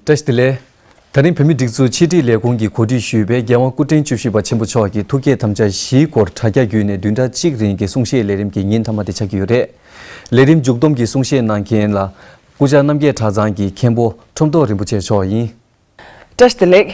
བཀྲ་ཤིས་བདེ་ལེགས། ད་རིང་བོད་མིའི་སྒྲིག་འཛུགས་ཕྱི་དྲིལ་ལས་ཁུངས་ཀྱི་གོ་སྒྲིག་ཞུས་པའི་རྒྱལ་དབང་སྐུ་ཕྲེང་བཅུ་བཞི་པ་ཆེན་པོ་མཆོག་གི་ཐུགས་བསྐྱེད་དམ་བཅའ་བཞིའི་སྐོར་དྲྭ་རྒྱ་བརྒྱུད་ནས་བདུན་ཕྲག་གཅིག་རིང་གི་གསུང་བཤད་ལས་རིམ་གྱི་ཉིན་མཐའ་མ་དེ་ཆགས་ཀྱི་ཡོད་རེད། ལས་རིམ་མཇུག་བསྡོམས་ཀྱི་གསུང་བཤད་གནང་མཁན་ལ། སྐུ་བཅར་རྣམ་རྒྱལ་གྲྭ་ཚང་གི་མཁན་པོ་ཁྲོམ་ཐོག་རིན་པོ་ཆེ་མཆོག་ཡིན། བཀྲ་ཤིས་བདེ་ལེགས།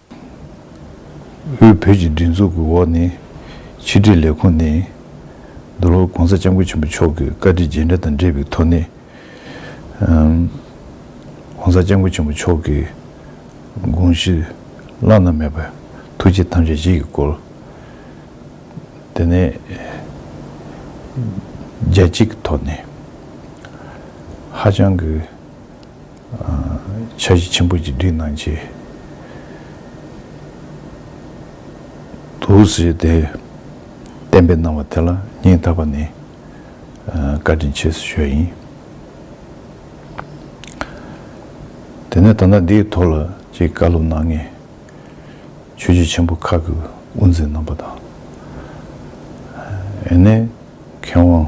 དབུས་བོད་ཀྱི་སྒྲིག་འཛུགས་ཀྱི་འོག་ནས་ཕྱི་དྲིལ་ལས་ཁུངས་ནས། འདི་ལོར ྋགོང་ས ྋསྐྱབས་མགོན་ཆེན་པོ་མཆོག་གི་བཀའ་དྲིན་རྗེས་འབྲེལ་དང་འབྲེལ་བའི་ཐོག་ནས། ྋགོང་ས ྋསྐྱབས་མགོན་ཆེན་པོ་མཆོག་གི་དགོངས་གཞི་བླ་ན་མེད་པ་ཐུགས་རྗེ་ཐམས་ཅད་གཞིག་གི་སྐོར། དེ་ནས་རྒྱལ་སྤྱི་གི་ཐོག་ནས་ཧ་ཅང་གི། ཆ་བཞི་ཆེན་པོ་ཅིག་བསྒྲིགས་གནང་རྗེས། དུག་སེལ་ཏེ་བསྟན་པའི་གནང་བ་དེ་ལ་སྙིང་ཐག་པ་ནས་བཀའ་དྲིན་ཆེ་ཞེས་ཞུ་བ་ཡིན། དེ་ནས་ད་ལྟ་འདིའི་ཐོག་ལ་ཅིག་བཀའ་སློབ་གནང་ངེས། ཆོས་རྗེ་ཆེན་པོ་ཁག་གི་དབུ་འཛིན་རྣམ་པ་དང། ཨེ་ནས་མཁས་དབང།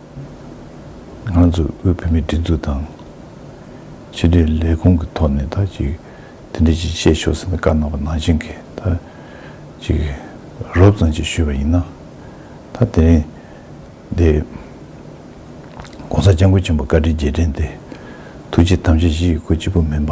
ང་ཚོས་དབུས་བོད་མིའི་སྒྲིག་འཛུགས་དང། ཕྱི་དྲིལ་ལས་ཁུངས་ཀྱི་ཐོག་ནས་ད་ཅིག་དེ་འདྲའི་ཅིག་བཤད་ཆོག་ཟེར་ནས་བཀའ་གནང་བ་ནང་བཞིན་གྱི་ད་ཅིག་རོབ་ཙམ་ཅིག་ཞུས་པ་ཡིན་ན། ད་དེ་རིང་འདི ྋགོང་ས ྋསྐྱབས་མགོན་ཆེན་པོ་བཀའ་དྲིན་རྗེས་དྲན་འདི་ཐུགས་རྗེ་ཐམས་ཅད་གཞི་ཡི་སྐུ་གཅིག་པུ་མིན་པ།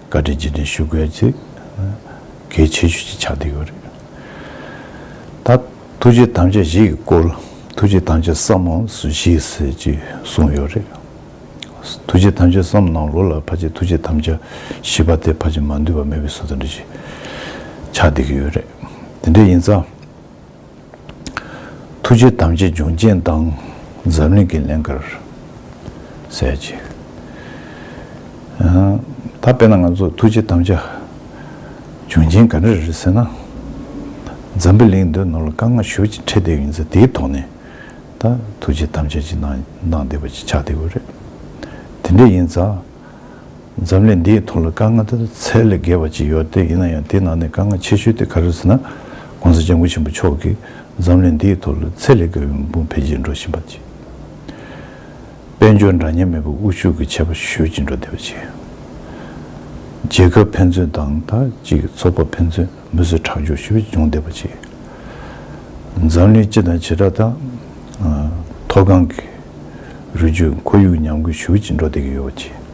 བཀའ་དྲིན་རྗེས་དྲན་ཞུ་དགོས་ཚེ། གལ་ཆེ་ཤོས་ཀྱི་ཕྱག་འདེབས་ཡོད་རེད་ད། ཐུགས་རྗེ་དམ་བཅའ་བཞི་ཡི་སྐོར། ཐུགས་རྗེ་དམ་བཅའ་བསམ་ནང་སུ་ཞིག་ཟེར་གྱི་གསུངས་ཡོད་རེད། ཐུགས་རྗེ་དམ་བཅའ་བསམ་ནང་ལོ་ལ་ཕ་ཆེ་ཐུགས་རྗེ་དམ་བཅའ་བཞི་པ་དེ་ཕ་ཆེ་མ་འདུས་པ་མེད་པའི་སྲོལ་དང་འབྲེལ་གྱི་ཕྱག་འདེབས་ཀྱི་ཡོད་རེད། དེ་འདྲ་ཡིན་ཙང། ཐུགས་རྗེ་དམ་ཅན་འབྱུང་ཆེན་དང་འཛམ་གླིང་གི་ལན་ཁར་གསལ་བྱེད། ད་དཔེར་ན་ང་ཚོ་ཐུགས་རྗེ་དམ་ཅན་འབྱུང་ཆེན་ག་འདྲ་རེད་ཟེར་ན། འཛམ་བུ་གླིང་འདིར་ནོར་ལ་དཀར་ནག་ཞོ་གཅིག་ཁྲེལ་བསྡད་ཡོད་ཚེ་དེའི་ཐོག་ནས་ད་ཐུགས་རྗེ་དམ་ཅན་གྱིས་གནང་བསྡད་པ་ཅིག་ཆགས་བསྡད་དགོས་རེད། དེ་འདྲ་ཡིན་ཙང། འཛམ་གླིང་འདིའི་ཐོག་ལ་དཀའ་ངལ་དེ་དག་ཚད་ལས་བརྒལ་བ་ཅི་ཡོད་དེ་ཡིན་ན་ཡང་དེའི་ནང་ནས་དཀའ་ངལ་ཆེ་ཤོས་དེ་ག་རེད་ཟེར་ན། གོང་ས་ལྗང་ཁུ་ཆེན་པོ་མཆོག་གིས་འཛམ་གླིང་འདིའི་ཐོག་ལ་ཚད་ལས་བརྒལ་བའི་མི་འབོར་འཕེལ་རྒྱས་འགྲོ་བཞིན་པ་བཅས། དཔལ་འབྱོར་འདྲ་མཉམ་མེད་པའི་དབུལ་ཕྱུག་གི་ཆད་པ་གཞུ་ཅི་འགྲོ་བདེ་བ་བཅས། རྒྱལ་ཁབ་ཕན་ཚུན་དང་དང་ཅིག་ཚོགས་པ་ཕན་ཚུན་མི་གསོད་ཁྲག་སྦྱོར་གཞུ་ཅུང་བདེ་བ་བཅས། འཛམ་གླིང་སྤྱི་དང་བྱེ་བྲག་དང། མཐོ་སྒང་གི་རུས་རྒྱུད་ཁོར་ཡུག་ཉམས་རྒུད་གཞུ་ཅི་འགྲོ་བདེ་གི་ཡོད་བ་བཅས།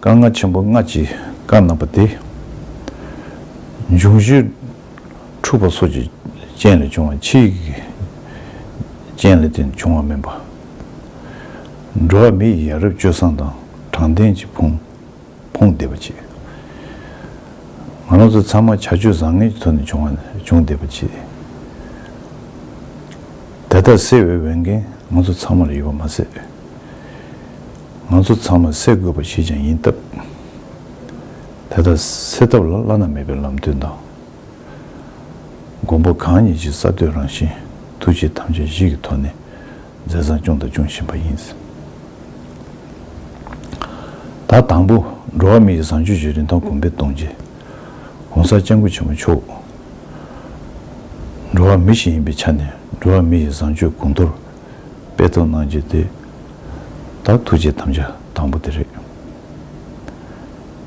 བཀའ་མངའ་ཆེན་པོ་སྔ་ཕྱི་བཀའ་གནང་པ་དེ། འབྱུང་བཞི་འཁྲུགས་པ་སོགས་ཀྱི་རྐྱེན་ལས་བྱུང་བ་ཕྱི་ཡི་གི་རྐྱེན་ལས་དེ་འབྱུང་བ་མིན་པ། འགྲོ་བ་མི་ཡི་ཡ་རབས་སྤྱོད་བཟང་དང་དྲང་བདེན་གྱི་ཕུང་ཕུང་བདེ་བ་ཆེ། ང་རང་ཚོ་ཚང་མ་བྱ་སྤྱོད་བཟང་ངན་གྱི་ཐོག་ནས་བྱུང་བ་བྱུང་བདེ་བ་ཆེ། དེ་དག་སེལ་བའི་འོས་འགན་ང་ཚོ་ཚང་མར་ཡོད་པ་མ་ཟད། ང་ཚོ་ཚང་མ་སེལ་དགོས་པ་ཞིག་ཀྱང་ཡིན་སྟབས། དེ་དག་སེལ་ཐབས་ལ་བླ་ན་མེད་པའི་ལམ་སྟོན་དང། མགོན་པོ་གང་ཉིད་ཀྱི་གསར་གཏོད་རང་བཞིན་ཐུགས་རྗེ་ཐམས་ཅད་གཞི་གི་ཐོག་ནས་མཛད་བཟང་སྐྱོང་དང་སྐྱོང་བཞིན་པ་ཡིན། ད་དང་པོ་འགྲོ་བ་མི་ཡི་བཟང་སྤྱོད་ཀྱི་རིན་ཐང་གོང་འཕེལ་གཏོང་ཆེད། གོང་གསར་སྤྱང་ཀུ་ཆེན་མོ་མཆོག་འགྲོ་བ་མི་ཞིག་ཡིན་པའི་ཆ་ནས་འགྲོ་བ་མི་ཡི་བཟང་སྤྱོད་གོང་མཐོར་དཔེ་ཐོ་གནང་རྒྱུ་དེ་ད་ཐུགས་རྗེ་དམ་བཅའ་དང་པོ་དེ་རེད།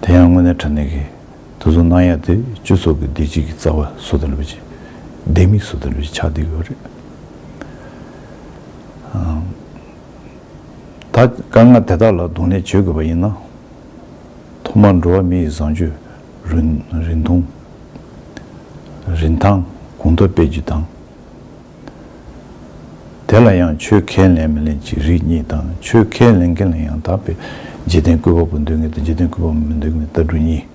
དེ་ཡང་དངོས་གནས་དྲ་གནས་ཀྱི་དུས་ཚོད་གནང་ཡག་དེ་སྤྱི་ཚོགས་ཀྱི་བདེ་སྐྱིད་ཀྱི་རྩ་བ་སོ་ཐར་བའི་ཆེད་ལྡེ་མིག་སོ་ཐར་བའི་ཆེད་ཆགས་བསྡད་ཡོད་རེད། ད་དཀའ་ངལ་དེ་དག་ལ་གདོང་ལེན་བྱེད་དགོས་པ་ཡིན་ན། ཐོག་མར་འགྲོ་བ་མི་ཡི་བཟང་སྤྱོད་རིན་ཐང་གོང་མཐོར་སྤེལ་རྒྱུ་དང། དེ་ལ་ཡང་ཆོས་ཁས་ལེན་མི་ལེན་ཅིག་རིགས་གཉིས་དང་ཆོས་ཁས་ལེན་མཁན་ལ་ཡང་དག་པའི་འཇིག་རྟེན་སྐུད་པ་པོ་འདོད་ངེས་དང་འཇིག་རྟེན་སྐུད་པ་མོ་མི་འདོད་ངེས་ལྟ་གྲུ་གཉིས།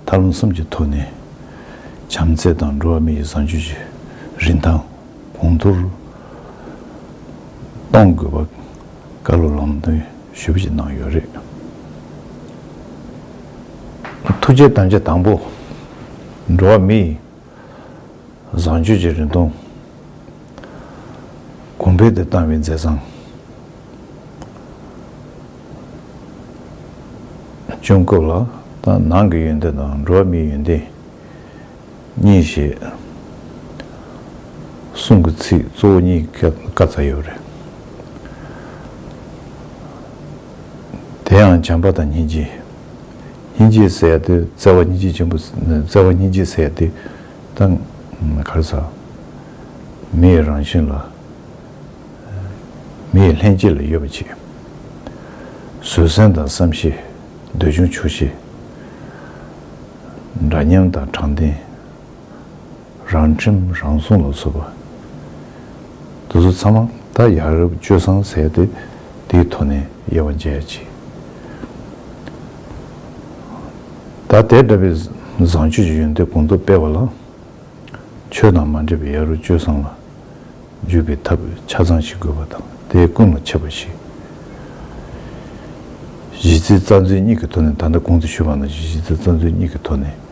མཐར་ལམ་གསུམ་གྱི་ཐོག་ནས། བྱམས་བརྩེ་དང་འགྲོ་བ་མི་ཡི་བཟང་སྤྱོད་ཀྱི་རིན་ཐང་གོང་མཐོར་གཏོང་དགོས་པ་བཀའ་སློབ་ལམ་སྟོན་ཞུ་བ་ཞིག་གནང་ཡོད་རེད། ཐུགས་རྗེའི་གཏམ་བྱ་དང་པོ། འགྲོ་བ་མི་ཡི། བཟང་སྤྱོད་ཀྱི་རིན་ཐང། གོང་འཕེལ་དུ་བཏང་བའི་མཛད་བཟང། སྤྱོད་སྐབས་ལ་དང་ནང་གི་ཡོན་ཏན་དང་འགྲོ་བ་མིའི་ཡོན་ཏན་གཉིས་ཞེས་གསུང་གི་ཚིག་གཙོ་བོ་གཉིས་ཀ་ཚང་ཡོད་པ་རེད། དེའང་བྱམས་པ་དང་སྙིང་རྗེ། སྙིང་རྗེའི་ཟས་སྟེ་བརྩེ་བ་སྙིང་རྗེ་ཆེན་པོ་བརྩེ་བ་སྙིང་རྗེའི་ཟས་ཏེ། དང། གར་ཟ། མི་ཡི་རང་བཞིན་ལ། མི་ཡི་ལྷན་སྐྱེས་ལ་ཡོད་པ་ཅིག། བཟོད་བསྲན་དང་བསམ་ཤེས། འདོད་ཆུང་ཆོས་ཤེས། འདྲ་མཉམ་དང་དྲང་བདེན། རང་ཁྲིམས་རང་སྲུང་ལ་འཚོལ་བ། དེ་ཚོ་ཚང་མ་ད་ཡ་རབས་སྤྱོད་བཟང་ཟེར་ཏེ་དེའི་ཐོག་ནས་དབྱེ་བ་འབྱེད་ཅིག། ད་དེ་འདྲ་བའི་བཟང་སྤྱོད་ཀྱི་ཡོན་ཏན་གོང་མཐོར་སྤེལ་བ་ལ། ཆོས་དང་མ་འདྲེས་པའི་ཡ་རབས་སྤྱོད་བཟང་ལ་འཇུག་པའི་ཐབས་ཆ་ཚང་ཞིག་དགོས་པ་དང་དེའི་ཀུན་ལ་འཆད་པ་ཞིག། གཞི་རྩའི་རྩ་འཛིན་གཉིས་ཀྱི་ཐོག་ནས་ད་ལྟ་གོང་དུ་ཞུས་པ་ནང་བཞིན་གཞི་རྩའི་རྩ་འཛིན་གཉིས་ཀྱི་ཐོག་ནས་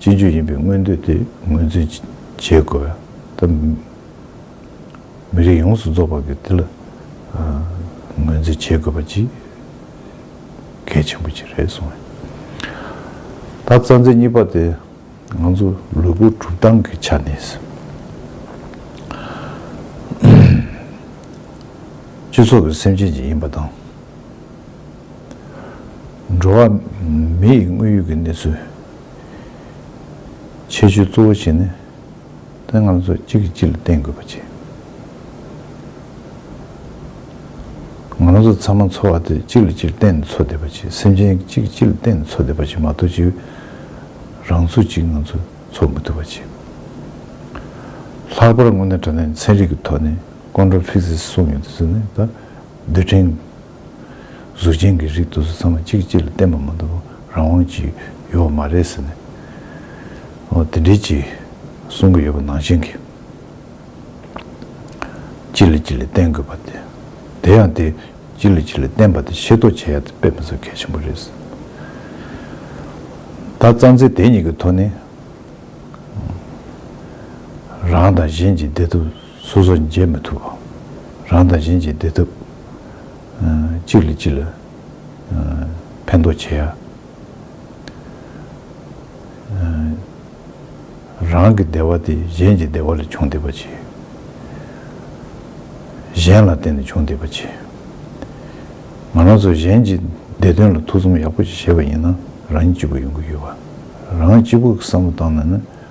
སྤྱི་རྒྱུ་ཡིན་པའི་མངོན་འདོད་དེ་ངོས་འཛིན་བྱེད་དགོས། དང། མི་རིགས་ཡོངས་སུ་རྫོགས་པ་གི་དེ་ལ་ངོས་འཛིན་བྱེད་དགོས་པ་ཅིག་གལ་ཆེན་པོ་ཅིག་རེད་གསུངས་ཡོད། ད་རྩ་འཛིན་གཉིས་པ་དེ་ང་ཚོ་ལུས་པོ་གྲུབ་སྟངས་ཀྱི་ཆ་ནས་སྤྱི་ཚོགས་ཀྱི་སེམས་ཅན་ཅིག་ཡིན་པ་དང། འགྲོ་བ་མི་ཡི་དངོས་ཡོད་ཀྱི་གནས་ཚུལ་ཆེ་ཤོས་གཙོ་བོ་བྱས་ནས་དེ་ང་ཚོ་གཅིག་གིས་གཅིག་ལ་བརྟེན་དགོས་པ་བྱས། ང་རང་ཚོ་ཚང་མ་འཚོ་བ་དེ་གཅིག་ལ་གཅིག་བརྟེན་ནས་འཚོ་བསྡད་པ་བྱས་སེམས་ཅན་གཅིག་གིས་གཅིག་ལ་བརྟེན་ནས་འཚོ་བསྡད་པ་བྱས་མ་གཏོགས་གཅིག་རང་ཚུགས་གཅིག་ང་ཚོ་འཚོ་མི་ཐུབ་པ་བྱས། ལྷག་པར་དངོས་གནས་དྲ་ལན་ཚན་རིག་གི་ཐོག་ནས་ཀོན་ཀྲོ་ཕིག་སིས་གསུངས་ཡོད་དེ་ཚོ་ནི་ད་རྡུལ་ཕྲན་གཟུགས་ཅན་གྱི་རིགས་དུ་ཚང་མ་གཅིག་གཅིག་ལ་བརྟེན་པ་མ་གཏོགས་པར་རང་དབང་ཅིག་ཡོད་པ་མ་རེད་ཟེར་ནས། འོ་དེ་འདྲའི་ཅིག་གསུང་གི་ཡོད་པ་ནང་བཞིན་གྱིས། གཅིག་ལ་གཅིག་ལ་བརྟེན་དགོས་པ་དེ། དེ་ཡང་དེ་གཅིག་ལ་གཅིག་ལ་བརྟེན་པ་དེ་ཤེས་རྟོགས་བྱེད་ཡག་དེ་དཔེ་མི་བཟོ་གལ་ཆེན་པོ་རེད་ཟེར། ད་རྩ་འཛིན་དེ་གཉིས་ཀྱི་ཐོག་ནས། རང་དང་གཞན་གྱི་བདེ་ཐབས་སོ་སོར་འཇལ་མི་ཐུབ་བམ། རང་དང་གཞན་གྱི་བདེ་ཐབས། གཅིག་ལ་གཅིག་ལ་ཕན་འདོགས་བྱེད། རང་གི་བདེ་བ་དེ་གཞན་གྱི་བདེ་བ་ལས་བྱུང་བསྡད་པ་བྱེད། གཞན་ལ་བརྟེན་ནས་བྱུང་བསྡད་པ་བྱེད། ང་རང་ཚོ་གཞན་གྱི་བདེ་དོན་ལ་ཐུགས་བསམ་ཡག་པོ་ཞིག་བཞེས་པ་ཡིན་ན་རང་ཉིད་སྐྱིད་པོ་ཡོང་གི་ཡོད། རང་གཅིག་པུ་གི་བསམ་བློ་བཏང་ན་ནི།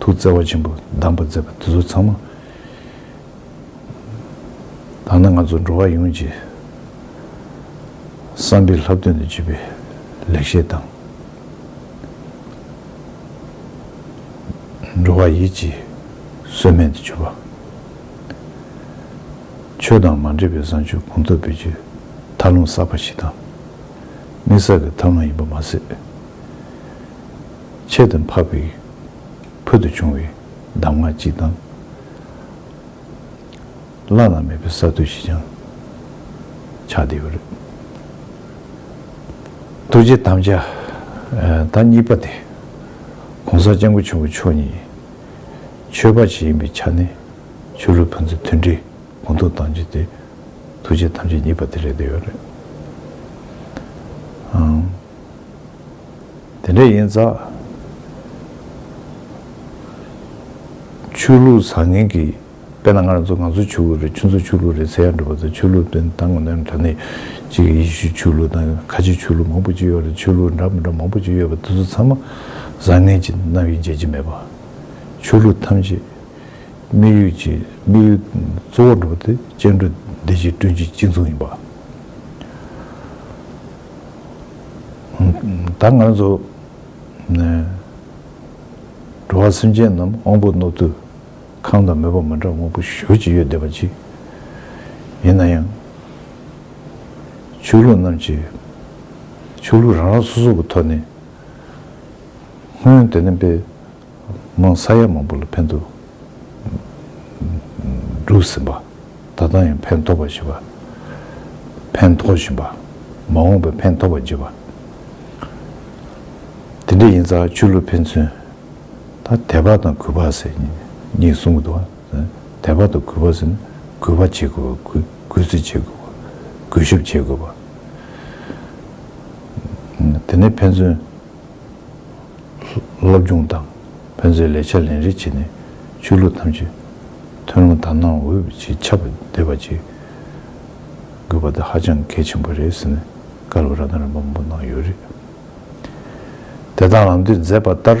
ཐུགས་བརྩེ་བ་ཆེན་པོས་གདམས་པ་མཛད་པ་འདི་ཚོ་ཚང་མ་བདག་ནི་ང་ཚོ་འགྲོ་བ་ཡོངས་ཀྱི་བསམ་པའི་ལྷག་དོན་དུ་གྱུར་པའི་ལེགས་བཤད་དང། འགྲོ་བ་ཡིད་ཀྱི་གསོས་སྨན་དུ་གྱུར་པ། ཆོས་དང་མ་འདྲེས་པའི་བཟང་སྤྱོད་གོང་མཐོར་འབུལ་རྒྱུའི་མཐར་ལྷུང་བསགས་པ་ཞིག་དང། དམིགས་བསལ་གྱི་མཐར་ལྷུང་ཡིན་པ་མ་ཟད། ཆེད་དུ་འཕགས་པའི་ཕུལ་དུ་བྱུང་བའི་གདམས་ངག་གཅིག་དང། བླ་ན་མེད་པའི་གསར་གཏོད་ཞིག་ཀྱང་ཆགས་བསྡད་ཡོད་རེད། རྡོ་རྗེ་དམ་བཅའ་དང་གཉིས་པ་དེ ྋགོང་ས ྋསྐྱབས་མགོན་ཆེན་པོ་མཆོག་ཉིད་ཆོས་དཔའ་ཞིག་ཡིན་པའི་ཆ་ནས་ཆོས་ལུགས་ཕན་ཚུན་མཐུན་སྒྲིལ་གོང་མཐོར་གཏང་རྒྱུ་དེ་རྡོ་རྗེ་དམ་བཅའ་གཉིས་པ་དེ་རེད་བསྡད་ཡོད་རེད། དེ་འདྲ་ཡིན་ཙང། ཆོས་ལུགས་བཟང་ངན་གྱི་དཔེ་ན་སྔར་ང་ཚོ་ཆོས་ལུགས་རེད་ཁྱོད་ཚོ་ཆོས་ལུགས་རེད་ཟེར་ཡང་འགྲིག་པ་དང་ཆོས་ལུགས་དོན་དང་ངོ་དོན་འདྲ་ནི་གཅིག་གི་ཡེ་ཤུ་ཆོས་ལུགས་དང་ཁ་ཆེ་ཆོས་ལུགས་མང་པོ་ཅིག་ཡོད་རེད་ཆོས་ལུགས་འདྲ་མི་འདྲ་མང་པོ་ཅིག་ཡོད་པ་དེ་ཚོ་ཚང་མ་བཟང་ངན་གྱི་རྣམ་དབྱེ་འབྱེད་ཀྱི་མེད་པ། ཆོས་ལུགས་ཐམས་ཅད་དམིགས་ཡུལ་གྱི་དམིགས་ཡུལ་གཙོ་བོར་འགྲོ་བ་དེ་སྐྱེ་འགྲོ་བདེ་སྐྱིད་བསྐྲུན་རྒྱུའི་གཅིག་མཚུངས་ཡིན་པ། ད་ང་ཚོ་འགྲོ་བ་སེམས་ཅན་རྣམས་དབང་པོ་རྣོ་རྟུལ་ཁང་དང་མོས་པ་མ་འདྲ་དབང་པོ་གཞོལ་ཅི་ཡོད་བདེན་པ་གཅིག་ཡིན་ན་ཡང། ཆོས་ལུགས་རྣམས་ཀྱི་ཆོས་ལུགས་རང་རང་སོ་སོ་གི་ཐོག་ནས་སྔོན་དེ་ནས་པའི་དམངས་ས་ཡ་མང་པོ་ལ་ཕན་ཐོགས་གྲུབ་ཟིན་པ། ད་ལྟ་ཡང་ཕན་ཐོགས་པ་བཞི་པ། ཕན་ཐོགས་བཞིན་པ། མ་འོངས་པའི་ཕན་ཐོགས་པ་བརྒྱད་པ། དེ་འདྲ་ཡིན་ཙང་ཆོས་ལུགས་ཕན་ཚུན་ད་དད་པ་དང་གུས་པ་ཟེར་གཉིས་གསུམ་གྱི་དོག་དད་པ་དང་གུས་པ་ཟེར་ན་གུས་པ་བྱེད་དགོས་པ་གུས་བརྩི་བྱེད་དགོས་པ་གུས་ཞབས་བྱེད་དགོས་པ། དེ་ནས་ཕན་ཚུན། སློབ་སྦྱོང་དང་ཕན་ཚུན་ལས་བྱ་ལེན་རེས་བྱས་ནས་ཆོས་ལུགས་ཐམས་ཅད་ཐུན་མོང་དག་སྣང་འོས་པ་ཅིག་ཆགས་པ་འདེབས་པ་ཅིག་དགོས་པ་དེ་ཧ་ཅང་གལ་ཆེན་པོ་རེད་ཟེར་ནས་བཀའ་སློབ་ར་དང་རིམ་པ་མང་པོ་གནང་ཡོད་རེད། དེ་དག་ལམ་སྟོན་མཛད་པ་ལྟར།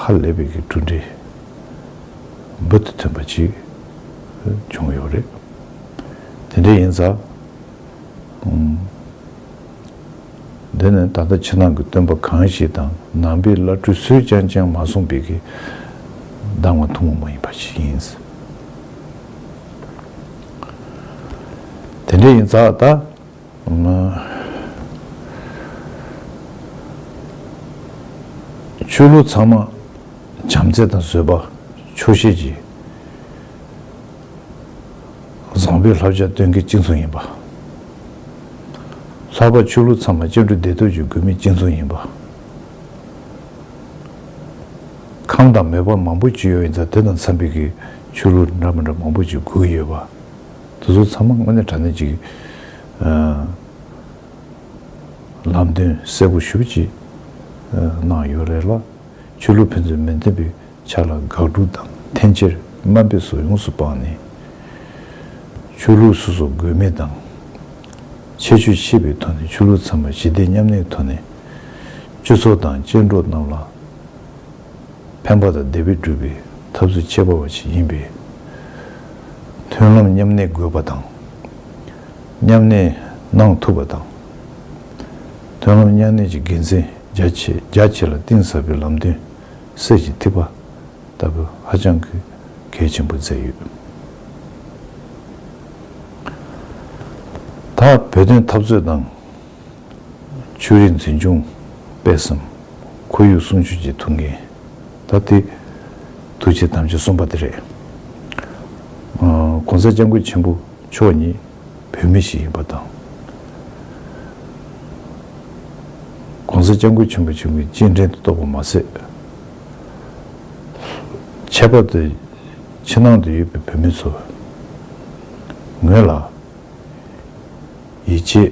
ཧ་ལས་པའི་གྲུབ་འབྲས་འབུར་དུ་ཐོན་པ་ཅིག་བྱུང་ཡོད་རེད། དེ་འདྲ་ཡིན་ཙང། འདི་ནི་ད་ལྟ་ཕྱི་ནང་གི་སྟོན་པ་གང་ཞིག་དང་ནང་པའི་བླ་སྤྲུལ་སུས་ཀྱང་ཅང་མ་གསུངས་པའི་གི་གདམས་ངག་ཐུང་ངུ་མ་ཡིན་པ་ཞིག་ཡིན། དེ་འདྲ་ཡིན་ཙང་ད། ང་ཆོས་ལུགས་ཚང་མ་བྱམས་བརྩེ་དང་བཟོད་པ་ཆོག་ཤེས་ཀྱི་བཟང་པོའི་བསླབ་བྱ་སྟོན་མཁན་གཅིག་མཚུངས་ཡིན་པ། ལྷག་པར་ཆོས་ལུགས་ཚང་མ་བཅིངས་འགྲོལ་བདེ་སྡུག་གི་དགོས་དམིགས་གཅིག་མཚུངས་ཡིན་པ། ཁམས་དང་མོས་པ་མང་པོ་བཅོལ་ཡོད་ཡིན་ཙང་དེ་དང་འཚམས་པའི་གི་ཆོས་ལུགས་འདྲ་མི་འདྲ་མང་པོ་ཅིག་དགོས་ཡོད་པ། དེ་ཚོ་ཚང་མ་དངོས་གནས་དྲ་གནས་ཀྱི་ལམ་སྟོན་གསལ་པོ་ཞུ་ཅིག་གནང་ཡོད་རེད་ལ། ཆོས་ལུགས་ཕན་ཚུན་མི་མཐུན་པའི་ཆ་ལ་དགག་སྒྲུབ་དང་འཐེན་འཁྱེར་དམའ་འབེབས་སོགས་ཡོངས་སུ་སྤངས་ནས། ཆོས་ལུགས་སོ་སོ་དགོས་མེད་དང། ཆད་གཅོད་ཤེས་པའི་ཐོག་ནས་ཆོས་ལུགས་ཚང་མ་ཞི་བདེ་མཉམ་གནས་ཐོག་ནས་སྤྱི་ཚོགས་དང་སྤྱི་འགྲོ་རྣམས་ལ། ཕན་པ་དང་བདེ་བས་སྒྲུབ་པའི་ཐབས་སུ་སྤྱད་པ་བ་ཞིག་ཡིན་པས། མཐུན་ལམ་མཉམ་གནས་དགོས་པ་དང། མཉམ་གནས་གནང་ཐུབ་པ་དང། མཐུན་ལམ་མཉམ་གནས་ཀྱི་དགེ་མཚན་རྒྱ་ཆེ་རྒྱ་ཆེ་ལ་གཏིང་ཟབ་པའི་ལམ་སྟོན་གསེར་གྱི་ཐིགས་པ་ལྟ་བུ་ཧ་ཅང་གི་གལ་ཆེན་པོ་མཛད་ཡོད། ད་བོད་དོན་འཐབ་རྩོད་དང། ཆོས་རིག་འཛིན་སྐྱོང་སྤེལ་བསམ། ཁོར་ཡུག་སྲུང་སྐྱོབ་ཀྱི་ཐུགས་འགན་ད་ལྟའི་ཐུགས་རྗེ་དམ་ཆོས་གསུམ་པ་དེ་རེད། ྋགོང་ས ྋསྐྱབས་མགོན་ཆེན་པོ་མཆོག་ཉིད་བོད་མི་ཞིག་ཡིན་པ་དང། ྋགོང་ས ྋསྐྱབས་མགོན་ཆེན་པོ་ཆེན་པོའི་སྤྱན་འདྲེན་དུ་གཏོགས་པ་མ་ཟད། ཁྱད་པར་དུ་ཕྱི་ནང་དུ་ཡོད་པའི་བོད་མི་ཚོ་ངོས་ལ། ཡིད་ཆེས།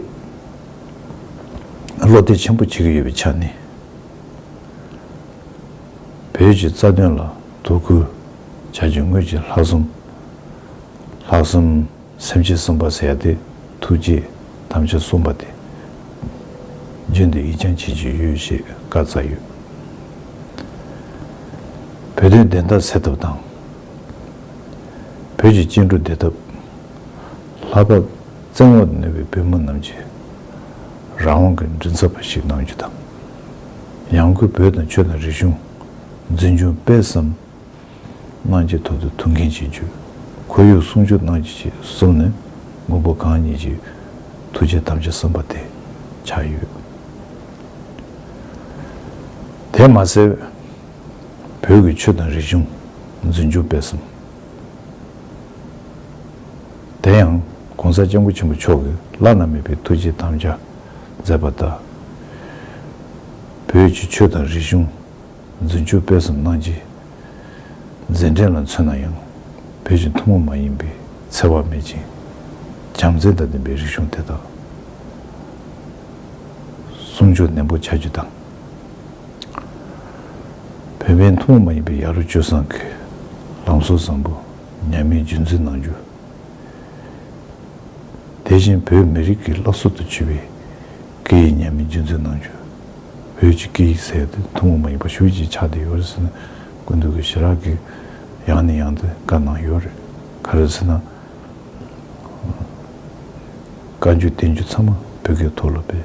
བློ་གཏད་ཆེན་པོ་བྱེད་ཀྱི་ཡོད་པའི་ཆ་ནས། བོད་ཀྱི་རྩ་དོན་ལ་དོ་ཁུར་བྱ་རྒྱུ་ངོས་ཀྱི་ལྷག་བསམ། ལྷག་བསམ། སེམས་ཀྱི་བསམ་པ་ཟད་དེ་ཐུགས་རྗེ་དམ་བཅའ་གསུངས་པ་དེ་རྒྱུན་དུ་ཡིད་སྦྱང་བྱེད་ཀྱི་ཡོད་ཞེས་བཀའ་སྩལ་ཡོད། བོད་དོན་བདེན་མཐའ་སེལ་ཐབས་དང། བོད་ཀྱི་སྐྱེ་འགྲོ་བདེ་ཐབས། ལྷ་བབས། བཙན་འོག་ཏུ་གནས་པའི་བོད་མི་རྣམས་ཀྱིས། རང་དབང་གི་མགྲིན་ཚབ་པ་ཞིག་གནང་རྒྱུ་དང། ཡང་སྒོས་བོད་དང་ཆོས་དང་རིག་གཞུང། འཛིན་སྐྱོང་སྤེལ་གསུམ། གནང་ཆེད་ཐོག་ཏུ་ཐུགས་འགན་བཞེས་རྒྱུ། ཁོར་ཡུག་སྲུང་སྐྱོབ་གནང་རྒྱུ་བཅས་གསུམ་ནི་མགོན་པོ་གང་ཉིད་ཀྱི་ཐུགས་རྗེ་དམ་བཅའ་གསུམ་པ་དེ་ཆགས་ཡོད། དེར་མ་ཟད། བོད་ཀྱི་ཆོས་དང་རིག་གཞུང་འཛིན་རྒྱུ་སྤེལ་གསུམ། དེ་ཡང ྋགོང་ས ྋསྐྱབས་མགོན་ཆེན་པོ་མཆོག་གིས་བླ་ན་མེད་པའི་ཐུགས་རྗེའི་དམ་བཅའ་མཛད་པ་ལྟར། བོད་ཀྱི་ཆོས་དང་རིག་གཞུང་འཛིན་རྒྱུ་སྤེལ་གསུམ་གནང་རྗེས། མཛད་འཕྲིན་ལ་མཚོན་ན་ཡང་བོད་ཀྱི་ཐུན་མོང་མ་ཡིན་པའི་འཚེ་བ་མེད་ཅིང་བྱམས་བརྩེ་དང་ལྡན་པའི་རིག་གཞུང་དེ་དག་སྲུང་སྐྱོང་ནན་པོ་བྱ་རྒྱུ་དང། བོད་པའི་མཐོང་བ་མ་ཡིན་པའི་ཡ་རོ་སྤྱོད་བཟང་གི་ལམ་སྲོལ་བཟང་པོ་ཉམས་མེད་རྒྱུན་འཛིན་གནང་རྒྱུ། དེ་བཞིན་བོད་མི་རིགས་ཀྱི་བླ་སྲོག་ཏུ་གྱུར་པའི་སྐད་ཡིག་ཉམས་མེད་རྒྱུན་འཛིན་གནང་རྒྱུ། བོད་ཀྱི་སྐད་ཡིག་གསལ་ཏེ་མཐོང་བ་མ་ཡིན་པ་ཞུ་རྒྱུའི་ཕྱག་དེ་ཡོད་རེད་ཟེར་ན་ཀུན་ཏུ་གི་ཞི་རག་གིས་ཡང་ནས་ཡང་དུ་བཀའ་གནང་ཡོད་རེད། ག་རེད་ཟེར་ན། བཀའ་འགྱུར་བསྟན་འགྱུར་ཚང་མ་བོད་སྐད་ཐོག་ལ་སྤེལ།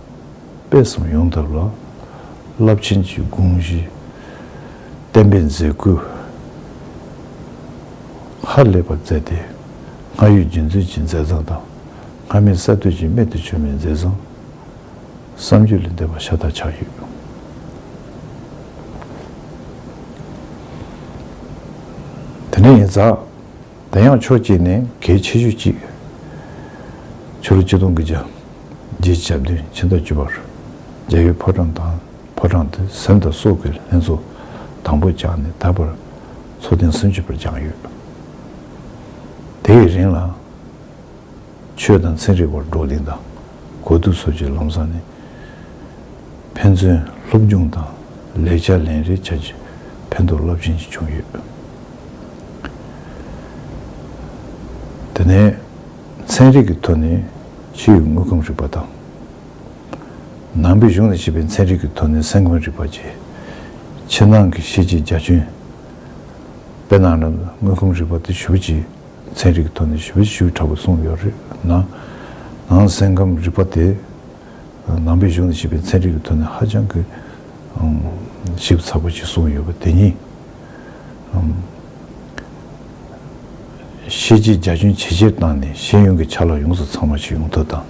སྤེལ་གསུམ་ཡོང་ཐབས་ལ་རླབས་ཆེན་གྱི་དགོངས་གཞི་བརྟན་པོས་མཛད་སྒོའི་ཧར་ལེགས་པར་བསྩལ་ཏེ། སྔར་ཡོད་རྒྱུན་འཛིན་གྱི་མཛད་བཟང་དང་སྔར་མེད་གསར་གཏོད་ཀྱི་རྨད་དུ་བྱུང་བའི་མཛད་བཟང་བསམ་རྒྱུད་ལས་འདས་པ་ཤ་སྟག་ཆགས་ཡོད། དེ་ནས་ཡིན་ཙང་དེ་ཡང་ཕྱོགས་གཅིག་ནས་གལ་ཆེ་ཤོས་གཅིག། ཕྱི་ལོ་ཆིག་སྟོང་གི་བརྒྱད་ཀྱི་ཞག་བདུན་ཕྱི་ཟླ་བཅུ་བར་རྒྱ་ཡུལ་ཕོ་བྲང་དང་ཕོ་བྲང་དུ་གཟེངས་བསྟོད་སོགས་ཀྱི་ལྷན་ཚོགས་དང་པོ་བཅངས་ནས་ད་བར་ཚོགས་ཐེངས་སུམ་ཅུ་བར་བཅངས་ཡོད། དེའི་རིང་ལ། ཆོས་དང་ཚན་རིག་བར་བགྲོ་གླེང་དང་གོ་བསྡུར་སོགས་ཀྱི་ལམ་བཟང་ནི། ཕན་ཚུན་སློབ་སྦྱོང་དང་ལེགས་ཆ་ལེན་རེས་བྱ་རྒྱུ་ཕན་ཐོགས་རླབས་ཆེན་ཞིག་བྱུང་ཡོད། དེ་ནས་ཚན་རིག་གི་ཐོག་ནས་ཕྱི་ཡི་དངོས་ཁམས་རིག་པ་དང། ནང་པའི་གཞུང་ལ་བྱས་པའི་ཚན་རིག་གི་ཐོག་ནས་སེམས་ཁམས་རིག་པ་བཅས། ཕྱི་ནང་གི་ཤེས་བྱའི་རྒྱ་ཁྱོན། དཔེར་ན་དངོས་ཁམས་རིག་པ་དེ་ཞུགས་རྗེས། ཚན་རིག་གི་ཐོག་ནས་ཞིབ་འབྲི་ཞུས་དྲག་པོ་གསུངས་ཡོད་རེད་ན། ནང་སེམས་ཁམས་རིག་པ་དེ་ནང་པའི་གཞུང་ནས་བཤད་པའི་ཚན་རིག་གི་ཐོག་ནས་ཧ་ཅང་གི་ཞིབ་ཚགས་པོ་ཞིག་གསུངས་ཡོད་པ་དེ་ཉིད། ཤེས་བྱའི་རྒྱ་ཁྱོན་ཇེ་ཆེར་བཏང་ནས་ཤེས་ཡོན་གྱི་ཆ་ལག་ཡོངས་སུ་ཚང་བ་ཞིག་ཡོང་ཐབས་དང།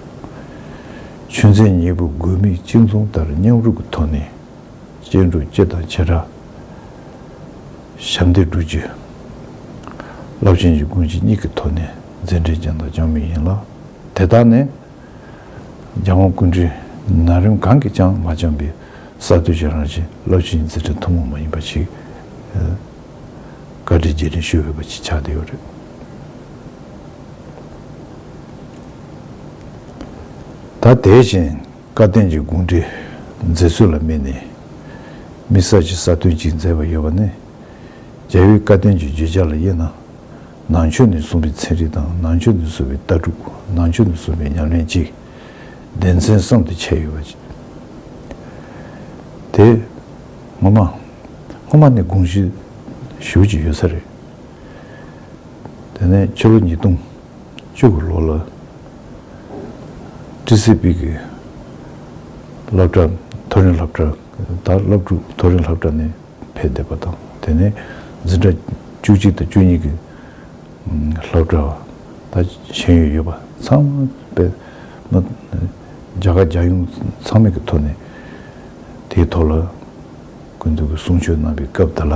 ཆོས་ཚན་གཉིས་པོ་དགོས་དམིགས་གཅིག་མཚུངས་ལྟར་མཉམ་རུབ་ཀྱི་ཐོག་ནས་སྤྱན་དྲུག་སྐྱེས་དང་ཆེ་ཕྲ། ཞབས་འདེགས་དྲུག་ཅུ། རླབས་ཆེན་གྱི་ཀུན་བྱེད་གཉིས་ཀྱི་ཐོག་ནས་མཛད་འཕྲིན་ཅན་དང་ཅང་མི་ཡིན་ལ། དེ་དག་ནི། རྒྱལ་དབང་ཀུན་འདྲིས་ན་རིམ་གང་གིས་ཀྱང་མ་བསྐྱངས་པའི་གསར་གཏོད་ཀྱི་རང་བཞིན་རླབས་ཆེན་གྱི་མཛད་འཕྲིན་ཐུན་མོང་མ་ཡིན་པ་ཞིག་བཀའ་དྲིན་རྗེས་དྲན་ཞུ་འོས་པ་ཞིག་ཆགས་བསྡད་ཡོད་རེད། ད་དེ་བཞིན། བཀའ་བསྟན་གྱི་དགོངས་འགྲེལ་མཛད་ཚུལ་ལ་དམིགས་ནས། དམིགས་བསལ་གྱི་གསར་ཐོན་གཅིག་མཛད་པ་ཡོད་པ་ནི། རྒྱལ་བོའི་བཀའ་བསྟན་གྱི་བརྗོད་བྱ་ལ་དབྱེ་ན། ནང་ཆོས་ནས་གསུངས་པའི་ཚན་རིག་དང་ནང་ཆོས་ནས་གསུངས་པའི་ལྟ་གྲུབ་ནང་ཆོས་ནས་གསུངས་པའི་ཉམས་ལེན་གཅིག། སྡེ་ཚན་གསུམ་དུ་ཕྱེ་ཡོད་པ། དེ། སྔོན་མ། སྔོན་མ་ནི་དགོངས་གཞི་ཞུགས་ཀྱི་ཡོད་ས་རེད། དེ་ནས་ཕྱི་ལོ་ཉིས་སྟོང། བཅུ་དགུ་ལོ་ལ་ཀྲི་སི་པིག་གི་སློབ་གྲྭ་མཐོ་རིམ་སློབ་གྲྭ་དང་སློབ་ཕྲུག་མཐོ་རིམ་སློབ་གྲྭ་ནས་ཕེབས་བསྡད་པ་དང་དེ་ནས་འཛིན་གྲྭ་བཅུ་གཅིག་དང་བཅུ་གཉིས་ཀྱི་སློབ་གྲྭ་བ་དང་ཤེས་ཡོན་ཡོད་པ་ཚང་མ་པད་མ་རྒྱ་གར་རྒྱལ་ཡོངས་ཚང་མེད་ཀྱི་ཐོག་ནས་དེའི་ཐོག་ལ་ཀུན་ཏུ་གསུང་ཆོས་གནང་བའི་སྐབས་འདི་ལ།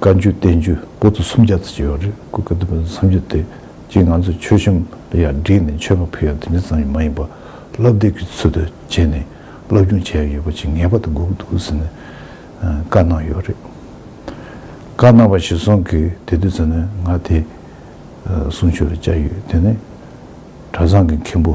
བཀའ་འགྱུར་བསྟན་འགྱུར་པོ་ཏི་སུམ་བརྒྱ་ཙམ་ཡོད་རེད་སྐུ་གདུང་བའི་མཚམས་སྦྱོར་དེ་གཅིག་ང་ཚོས་ཆོས་གཞུང་ལ་ཡར་བསྒྲིགས་ནས་མཆོད་པ་ཕུལ་ཡང་དེ་འདྲ་ཙམ་ཡང་མ་ཡིན་པར་བསླབ་དེབ་ཀྱི་ཚུལ་དུ་བྱས་ནས་བསླབ་སྐྱོང་བྱས་ཡོད་པ་ཅིག་ངེས་པར་དུ་དགོས་ཀྱི་འདུག་ཟེར་ནས་བཀའ་གནང་ཡོད་རེད། བཀའ་གནང་བ་ཞིག་སོང་གི་དེ་དུས་ཚོད་ནས་ང་དེ་གསུང་ཆོས་ལ་བཅར་ཡོད་དེ་ནི་གྲྭ་ཚང་གི་མཁན་པོ།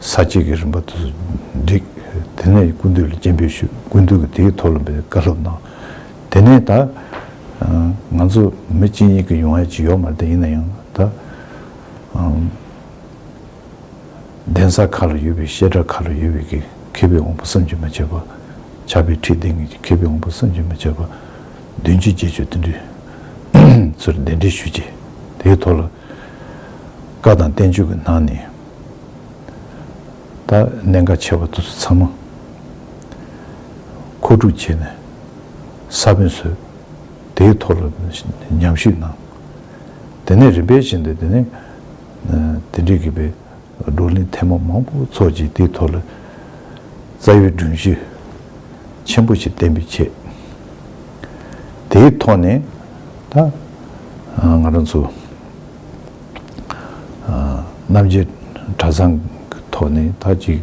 ས་བཅད་ཀྱི་རིམ་པ་དུ་བསྒྲིགས། དེ་ནས་ཀུན་བཏུས་ལ་སྤྱན་འབུལ་ཞུས། ཀུན་བཏུས་ཀྱིས་དེའི་མཐོ་ལོན་པའི་བཀའ་སློབ་གནང། དེ་ནས་ད། ང་ཚོ་མི་གཅིག་གཉིས་ཀྱི་ཡོང་ཡ་ཅི་ཡོད་མ་རེད་ད་ཡིན་ན་ཡང་ད། གདན་ས་ཁག་ལ་ཡོད་པའི་བཤད་གྲྭ་ཁག་ལ་ཡོད་པའི་གི་མཁས་པའི་དབང་པོ་བསམ་གྱིས་མ་ཁྱབ་པ། ཆགས་པའི་ཁྲིད་སྟེང་གི་གི་མཁས་པའི་དབང་པོ་བསམ་གྱིས་མ་ཁྱབ་པ། བདུན་གཅིག་རྗེས་ཆོས་བསྟན་འདུས། ཚུར་གདན་འདྲེན་ཞུས་རྗེས་དེའི་ཐོག་ལ། བཀའ་དང་བསྟན་བཅོས་ཀྱི་ནང་ནས་ད་གནད་འགག་ཆེ་བ་དེ་ཚོ་ཚང་མ་མཁོ་སྒྲུབ་བྱས་ནས་ས་བོན་བཟོས། དེའི་ཐོག་ལ་ཉམས་ཞིབ་གནང། དེ་ནས་རིམ་པས་ཕྱིན་ཏེ་དེ་ནས་དེ་འབྲེལ་གྱི་པའི་བགྲོ་གླེང་ཐེངས་མང་མང་པོ་ཚོགས་ཀྱིས་དེའི་ཐོག་ལ་རྩ་བའི་སྒྲུབ་གཞི་ཆེན་པོ་ཞིག་གཏན་འབེབས་བྱས། དེའི་ཐོག་ནས་ད་ང་རང་ཚོ། རྣམ་རྒྱལ་གྲྭ་ཚང་གི་ཐོག་ནས་ད་ཅིག་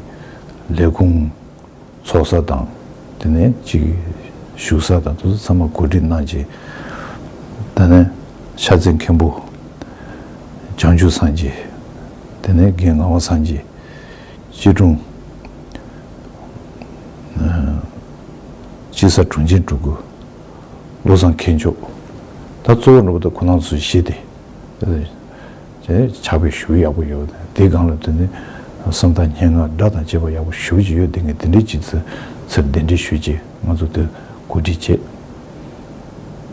ལས་ཁུངས་འཚོགས་ས་དང་དེ་ནས་ཅིག་བཞུགས་ས་དང་དུ་ཚང་མ་གོ་སྒྲིག་གནང་རྗེས་ད་ནས་ཤ་ཚའི་མཁན་པོ་བྱང་ཆུབ་སངས་རྒྱས་དེ་ནས་རྒན་ངག་དབང་སངས་རྒྱས་སྤྱི་དྲུང་སྤྱི་ས་དྲུང་ཆེན་སྤྲུལ་སྐུ་བློ་བཟང་མཁས་མཆོག་ད་གཙོ་བོ་འགྲོ་པ་ད་ཁོ་ནང་ཚོ་བཞི་སྟེ། ཇག་པས་ཞུ་ཡག་པོ་ཡོད་དེ་སྒང་ལ་དོན་དུ་སུམ་རྟགས་སྙན་ངག་སྒྲ་དང་བཅས་པ་ཡག་པོ་ཞུ་བྱེད་ཡོད་དེ་ངས་དེ་འདྲའི་ཅིག་ཚུར་གདན་འདྲེན་ཞུས་རྗེས་ང་ཚོ་དེར་གོ་སྒྲིག་བྱས།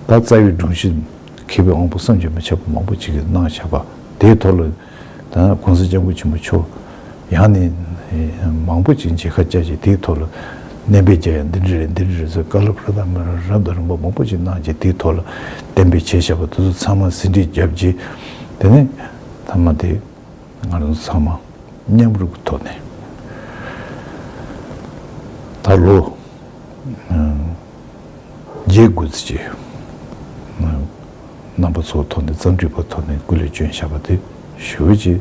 ད་རྩ་བའི་སྒྲུང་གཞི་མཁས་པའི་དབང་པོ་བསམ་གྱིས་མི་ཁྱབ་པ་མང་པོ་ཅིག་གིས་གནང་བཞག་པ་དེའི་ཐོག་ལ་ད་གོང་ས་སྐྱབས་མགོན་ཆེན་པོ་མཆོག་ཡང་ནི། མང་པོ་ཅིག་འཇིགས་ཁ་བཅས་ཀྱིས་དེའི་ཐོག་ལ། བསྟན་པའི་རྒྱ་ཡང་འདི་འདྲ་རེད་འདི་འདྲ་རེད་ཟེར་བཀའ་སློབ་ཧྲ་ཏག་མེད་རབ་དང་རིང་པོ་མང་པོ་ཅིག་གནང་རྗེས་དེའི་ཐོག་ལ། བསྟན་པའི་ཆེད་བཤད་པ་དེ་ཚོ་ཚང་མ་ཟིན་བྲིས་བརྒྱབ་རྗེས། དེ་ནས། མཐའ་མ་དེ། ང་རང་ཚོ་ཚང་མ། མཉམ་རུབ་ཀྱི་ཐོག་ནས། ད་ལོ། རྒྱའི་དགོས་རྩིས་ཀྱི། རྣམ་པ་ཚོགས་ཐོག་ནས་བརྩམས་སྒྲིག་པ་ཐོག་ནས་སྐུ་ལས་བྱོན་བཞག་པ་དེ་ཞུ་བ་བྱས།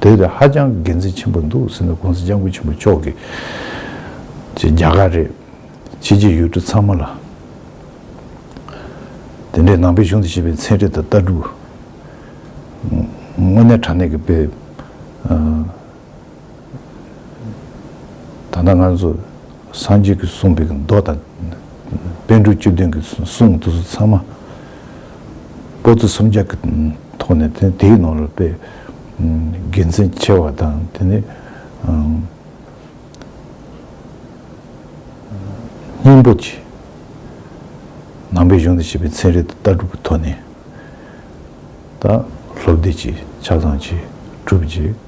དེ་རེད་ཧ་ཅང་དགེ་མཚན་ཆེན་པོ་འདུག་སེམས་ན་ཀུང་ཟི་སྤྱང་ཀུ་ཆེན་པོ་མཆོག་གིས་ཀྱི་རྒྱ་གར་རེད། ཕྱི་རྒྱལ་ཡུལ་གྲུ་ཚང་མ་ལ། དེ་འདྲའི་ནང་པའི་གཞུང་དུ་བཤད་པའི་མཚན་རེ་དང་ལྟ་གྲུབ། དངོས་གནས་དྲང་གནས་ཀྱི་དཔེ། ད་ལྟ་ང་ཚོ་སངས་རྒྱས་ཀྱིས་གསུངས་པའི་མདོ་དང། དཔལ་འབྲུག་བཅུ་བདུན་གྱིས་གསུངས་དུས་སུ་ཚང་མ་པོ་ཏི་སུམ་བརྒྱ་གི་ཐོག་ནས་དེ་དེའི་ནང་ལ་དཔེ་དགེ་མཚན་ཆེ་བ་དང་དེ་ནས་སྙིང་པོ་ཆེ། ནང་པའི་གཞུང་དུ་བྱས་པའི་ཚན་རིག་དང་ལྟ་གྲུབ་ཀྱི་ཐོག་ནས་ད་ལྷོ་བདེ་སྐྱིད་ཆ་ཚང་གིས་གྲུབ་རྗེས།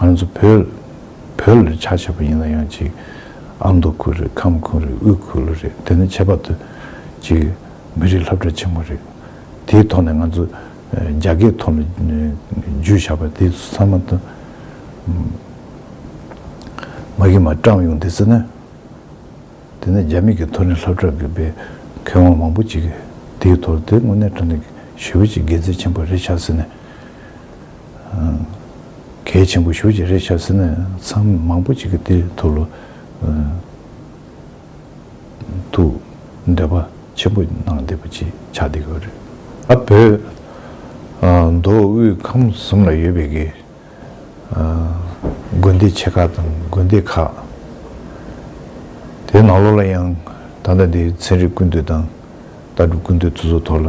ང་རང་ཚོ་བོད་བོད་ལ་ཕྱག་བྱས་པ་ཡིན་ལ་ཡང་ཅིག་ཨ་མདོ་ཁུལ་རེད་ཁམས་ཁུལ་རེད་དབུས་ཁུལ་རེད་དེ་ནི་ཁྱད་པར་དུ་ཅིག་མི་རིགས་ལྷབ་གྲ་ཆེན་མོ་རེད་དེའི་ཐོག་ནས་ང་ཚོ་རྒྱ་སྐད་ཐོག་ལ་རྒྱུས་བཞག་པ་དེ་ཚང་མ་དང་མ་གིས་མ་བཀྲམས་ཡོང་དེ་ཚོ་ནི་དེ་ནི་རྒྱ་མི་གིས་ཐོག་ནས་ལྷབ་གྲ་དགོས་པའི་ཁེ་དབང་མང་པོ་ཅིག་དེའི་ཐོག་དེ་དངོས་གནས་དོན་དུ་ཞི་བ་ཅིག་དགེ་མཚན་ཆེན་པོ་རེད་ཆགས་ཟེར་ནས་གལ་ཆེན་པོ་ཞུ་ཅི་རེད་བྱ་ཟེར་ན་མཚམས་མང་པོ་གཅིག་གི་དེ་ཐུགས་ལ་ཐུགས་འདོད་པ་ཆེན་པོ་གནང་བསྡད་པ་ཅིག་ཆགས་བསྡད་ཡོད་རེད། ཨ་བོད་མདོ་དབུས་ཁམས་གསུམ་ལ་ཡོད་པའི་གི་དགོན་སྡེ་ཆེ་ཁག་དང་དགོན་སྡེ་ཁག་དེ་ནང་ལོགས་ལ་ཡང་ད་ལྟ་འདིའི་ཚན་རིག་ཀུན་བཏུས་དང་ལྟ་གྲུབ་ཀུན་བཏུས་ཐུགས་གཟུགས་ཐོག་ལ་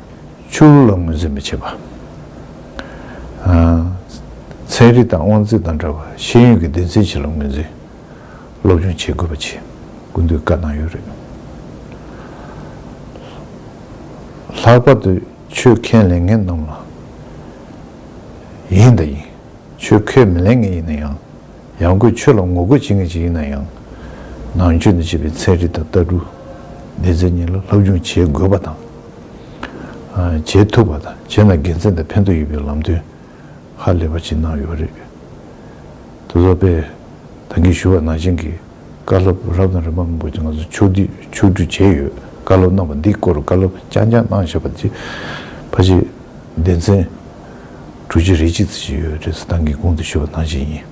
ཆུ་བོ་ལ་ངོས་འཛིན་མི་བྱེད་པ། ཚན་རིག་དང་དབང་ཚད་དང་འདྲ་བར་ཤེས་ཡོན་གྱི་སྡེ་ཚན་བཞི་ལ་ངོས་འཛིན་སློབ་སྦྱོང་བྱེད་དགོས་པ་ཆེད་སྐུལ་འདེད་བཀའ་གནང་ཡོད་རེད། ལྷག་པར་དུ་ཆོས་མཁས་ལས་མཁས་རྣམས་ལ། ཡིན་དང་ཡིན། ཆོས་མཁས་མི་ལས་མཁས་ཡིན་ན་ཡང། ཡང་སྒོས་ཆོས་ལ་ངོ་རྒོལ་བྱེད་མཁན་ཞིག་ཡིན་ན་ཡང། ནང་ཆོས་འདི་བྱེད་པའི་ཚན་རིག་དང་ལྟ་གྲུབ་ལས་ཚན་གཉིས་ལ་སློབ་སྦྱོང་བྱེད་དགོས་པ་དང། བྱེད་ཐུབ་པ་དང་བྱས་ན་དགེ་མཚན་དང་ཕན་ཐོགས་ཡོད་པའི་ལམ་སྟོན་ཧ་ལས་པ་ཞིག་གནང་ཡོད་རེད། ད་གཟོད་པས་ད་གིན་ཞུ་བ་ནང་བཞིན་གྱི། བཀའ་སློབ་རབ་དང་རིམ་པ་མང་པོ་ཞིག་ང་ཚོས་ཕྱོགས་བསྡུས་ཕྱོགས་བསྒྲུབས་བྱས་ཡོད། བཀའ་སློབ་གནང་བ་འདིའི་སྐོར་བཀའ་སློབ་རྐྱང་རྐྱང་གནང་བཞེད་པ་འདི་ཕ་གཞིས་བདེ་མཚན་དྲུག་ཅུ་རེ་གཅིག་ཚུན་ཞིག་ཡོད་རེད་ཟེར་ཏང་གི་དགོངས་དོན་ཞུ་བ་ནང་བཞིན་ཡིན།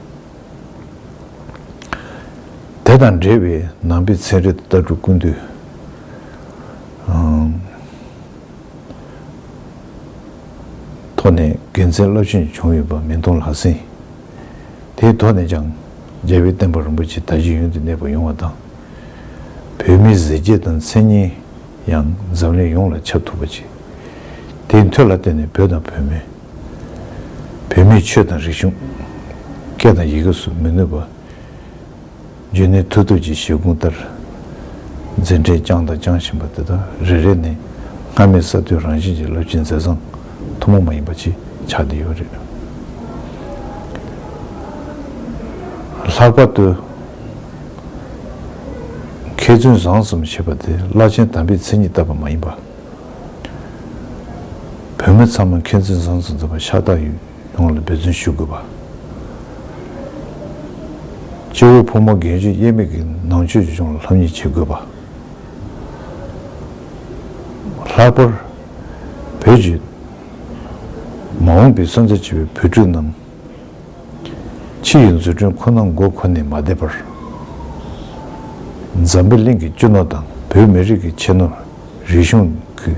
དེ་དང་འབྲེལ་བའི་ནང་པའི་ཚན་རིག་དང་ལྟ་གྲུབ་ཀུན་བཏུས། ཐོག་ནས་དགེ་མཚན་རླབས་ཆེན་བྱུང་ཡོད་པ་མིང་མཐོང་ལག་ཟིན། དེའི་ཐོག་ནས་ཀྱང་རྒྱལ་བའི་བསྟན་པ་རིན་པོ་ཆེ་ད་གཞི་ཡུན་དུ་གནས་པ་ཡོང་བ་དང། བོད་མིའི་གཟི་བརྗིད་དང་མཚན་སྙན་ཡང་འཛམ་གླིང་ཡོངས་ལ་ཁྱབ་ཐུབ་པ་བྱས། དེའི་མཐུ་ལ་བརྟེན་ནས་བོད་དང་བོད་མི། བོད་མིའི་ཆོས་དང་རིག་གཞུང། སྐད་དང་ཡི་གེ་སུ་མི་ནུས་པ། རྒྱུད་ནི་མཐུ་སྟོབས་ཀྱི་བཞེད་དགོངས་ལྟར། འཛིན་གྲྭས་བསྐྱངས་དང་བསྐྱང་བཞིན་པ་དེ་དག་རེ་རེ་ནས་སྔར་མེད་གསར་གཏོད་རང་བཞིན་གྱི་རླབས་ཆེན་མཛད་བཟང་ཐུན་མོང་མ་ཡིན་པ་ཅིག་ཆགས་བསྡད་ཡོད་རེད། ལྷག་པར་དུ། མཁས་བཙུན་བཟང་ཙམ་ཞེས་པ་དེ་བླ་ཆེན་དམ་པའི་མཚན་ཉིད་ལྟ་བུ་མ་ཡིན་པར། བོད་མི་ཚང་མ་མཁས་བཙུན་བཟང་ཙམ་འཛོམས་པ་ཤ་སྟག་ཡོད། ཡོངས་ལ་འབད་བརྩོན་ཞུ་དགོས་པ། སྤྱི་བོར་ཕོ་མོ་རྒན་གཞོན་དབྱེར་མེད་ཀྱི་ནང་ཆོས་ཆོས་སྐྱོང་ལ་ལྷོད་མྱི་བྱེད་དགོས་པ། ལྷག་པར་བོད་ཀྱི་མ་འོངས་པའི་སོན་རྩ་ཆེ་བའི་བོད་ཕྲུག་རྣམས་ཕྱི་ཡི་འཛུལ་སྒྲོན་ཁོ་ན་མགོ་འཁོར་ནས་མ་བསྡད་པར། འཛམ་བུ་གླིང་གི་སྤྱི་ནོར་དང་བོད་མི་རིགས་ཀྱི་ཆེ་ནོར་རིག་གཞུང་གི་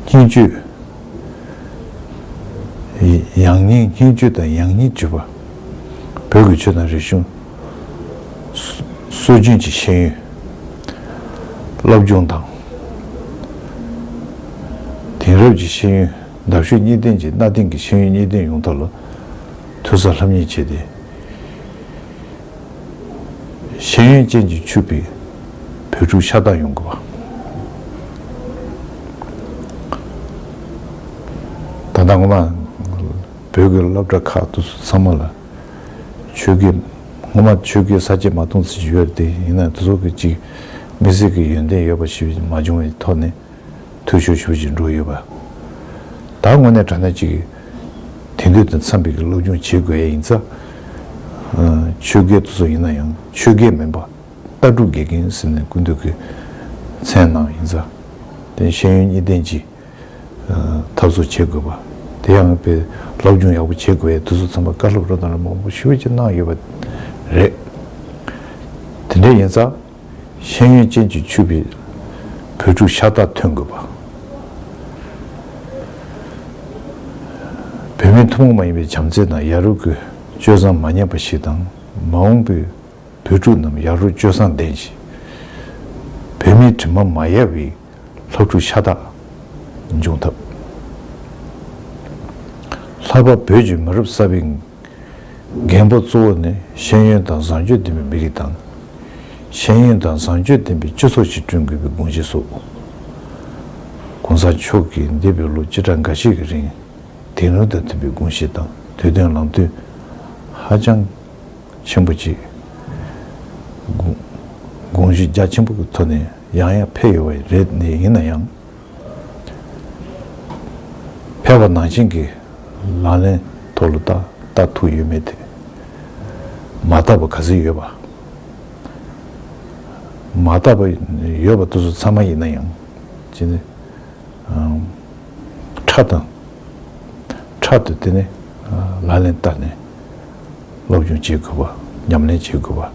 སྙིང་བཅུད། ཡང་སྙིང་སྙིང་བཅུད་དང་ཡང་སྙིང་བཅུད་པ། བོད་ཀྱི་ཆོས་དང་རིག་གཞུང། སྲོལ་རྒྱུན་གྱི་ཤེས་ཡོན། སློབ་སྦྱོང་དང། དེང་རབས་ཀྱི་ཤེས་ཡོན་འདབ་གཤོས་གཉིས་ལྡན་གྱི་གནའ་དེང་གི་ཤེས་ཡོན་གཉིས་ལྡན་ཡོང་ཐབས་ལ་དུས་སར་ལྷམ་གཉིས་བྱས་ཏེ། ཤེས་ཡོན་ཅན་གྱིས་ཕྱུག་པའི་བོད་ཕྲུག་ཤ་སྟག་ཡོང་དགོས་པ། ད་ལྟ་ངོ་མ་བོད་ཀྱི་སློབ་གྲྭ་ཁག་ཏུ་ཚང་མ་ལ་ཆོས་དགེ་ངོ་མ་ཆོས་དགེ་ས་བཅད་མ་གཏོང་ཚུལ་ཞིག་ཡོད་རེད་དེ་ཡིན་ན་དེ་ཚོ་གི་ཅིག་མི་སེར་གྱི་ཡོན་ཏན་ཡོད་པ་ཞིག་མ་བྱུང་བའི་ཐོག་ནས་འཐུས་ཤོར་ཤོར་བཞིན་འགྲོ་ཡོད་པ། ད་དངོས་གནས་དྲ་གནས་ཅིག་དེང་དུས་དང་འཚམས་པའི་གི་སློབ་སྦྱོང་བྱེད་དགོས་ཡས་ཡིན་ཚ། ཆོས་དགེ་དུ་ཚོ་ཡིན་ན་ཡང་ཆོས་དགེ་མིན་པ། ལྟ་གྲུབ་དགེ་རྒན་ཟེར་ནས་ཀུན་འདུས་ཀི་མཚན་ནང་ཡིན་ཚ། དེ་ཤེས་ཡོན་གཉིས་ལྡན་གྱི་ཐབས་སུ་བྱེད་དགོས་པ། དེ་ཡང་དཔེ་སློབ་སྦྱོང་ཡག་པོ་བྱེད་དགོས་ཡས་དུ་ཚོ་འཚམས་པ་བཀའ་སློབ་རོ་དང་ར་མོང་པོ་ཤོས་ཅིག་གནང་ཡོད་པ་རེད། དེ་འདྲ་ཡིན་ཚ། ཤེས་ཡོན་ཅན་གྱི་ཆུ་བེད་བོད་ཕྲུག་ཤ་སྟག་ཐོན་དགོས་པ། བོད་མིའི་ཐུན་མོང་མ་ཡིན་པའི་བྱམས་བརྩེ་དང་ཡ་རུ་གུ་སྤྱོད་བཟང་མ་ཉམས་པ་ཞིག་དང་མ་འོངས་པའི་བོད་ཕྲུག་རྣམས་ཡ་རུ་སྤྱོད་བཟང་ལྡན་ཞིང། བོད་མིའི་དྲི་མ་མ་ཡལ་བའི་ལྷ་ཕྲུག་ཤ་སྟག་འབྱུང་ཐབས། ལྷག་པར་བོད་ཀྱི་མི་རབས་གསར་བའི། འགན་འབོར་གཙོ་བོ་ནི་ཤེས་ཡོན་དང་བཟང་སྤྱོད་ལྡན་པའི་མི་རིགས་དང། ཤེས་ཡོན་དང་བཟང་སྤྱོད་ལྡན་པའི་སྤྱི་ཚོགས་ཤིག་བསྐྲུན་དགོས་པའི་དགོངས་གཞི་བསུ། ྋགོང་ས་མཆོག་གིས་འདས་པའི་ལོ་བཅུ་ཕྲག་འགའ་ཤས་ཀྱི་རིང་དེང་རབས་དང་མཐུན་པའི་དགོངས་གཞི་དང་དུས་བསྟུན་ལམ་སྟོན་ཧ་ཅང་ཆེན་པོ་བྱས། དགོངས་གཞི་རྒྱ་ཆེན་པོ་གི་ཐོག་ནས་ཡང་ཡང་ཕེབས་ཡོད་པ་རེད་ཡིན་ན་ཡང། ཕལ་བ་ནང་བཞིན་གྱི་ལག་ལེན་ཐོག་ལ་བཏགས་ལྟ་ཐུག་ཡོད་མེད་དེ་མ་བཏགས་པ་ག་ཚོད་ཡོད་པ། མ་བཏགས་པ་ཡོད་པ་དེ་ཚོ་ཚང་མ་ཡིན་ན་ཡང་ཅི་ནི། ཕྲག་དང་ཕྲག་ཏུ་དེ་ནི་ལག་ལེན་བསྟར་ནས་སློབ་སྦྱོང་བྱེད་དགོས་པ་ཉམས་ལེན་བྱེད་དགོས་པ་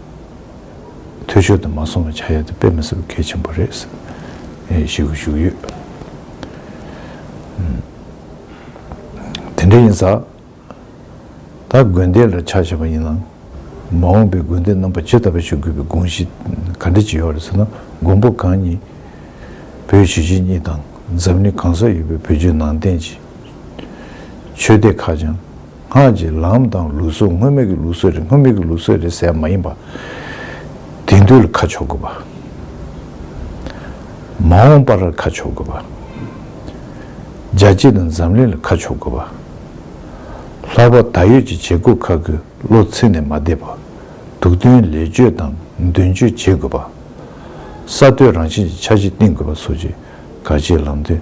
འཐུས་ཤོར་དུ་མ་སོང་བ་བྱ་ཡག་དེ་དཔེ་མི་སྲིད་པ་གལ་ཆེན་པོ་རེད། ཞེས་གུ་བཞུགས་ཡོད། དེ་འདྲ་ཡིན་ས། ད་དགོན་སྡེ་ལ་ཕྱག་བྱས་པ་ཡིན་ནང། མ་འོངས་པའི་དགོན་སྡེ་རྣམ་པ་ཇི་ལྟ་བུ་ཞིག་དགོས་པའི་དགོངས་གཞི་ག་འདྲ་ཅིག་ཡོད་རེད་ཟེར་ན་མགོན་པོ་གང་ཉིད་བོད་ཞི་བྱེས་གཉིས་དང་འཛམ་གླིང་གང་སར་ཡོད་པའི་བོད་བརྒྱུད་ནང་བསྟན་གྱི་ཆོས་སྡེ་ཁག་ཀྱང། སྔགས་ཀྱི་ལམ་དང་ལུགས་སྲོལ་སྔོན་མེད་ཀྱི་ལུགས་སྲོལ་རེད་སྔོན་མེད་ཀྱི་ལུགས་སྲོལ་རེད་ཟེར་མ་ཡིན་པ། དེང་དུས་ལ་ཁ་ཕྱོགས་དགོས་པ། མ་འོངས་པར་ཁ་ཕྱོགས་དགོས་པ། རྒྱལ་སྤྱི་དང་འཛམ་གླིང་ལ་ཁ་ཕྱོགས་དགོས་པ། ལྷག་པར་ད་ཡོད་ཀྱི་བྱེད་སྒོ་ཁག་གི་བློ་ཚིག་ནས་མ་བསྡད་པར་དུག་དོན་ལས་བཅོས་དང་མདུན་བསྐྱོད་བྱེད་དགོས་པ། གསར་གཏོད་རང་བཞིན་གྱི་འཆར་གཞི་བཏིང་དགོས་པ་སོགས་ཀྱི་ག་ཅིག་ལམ་སྟོན་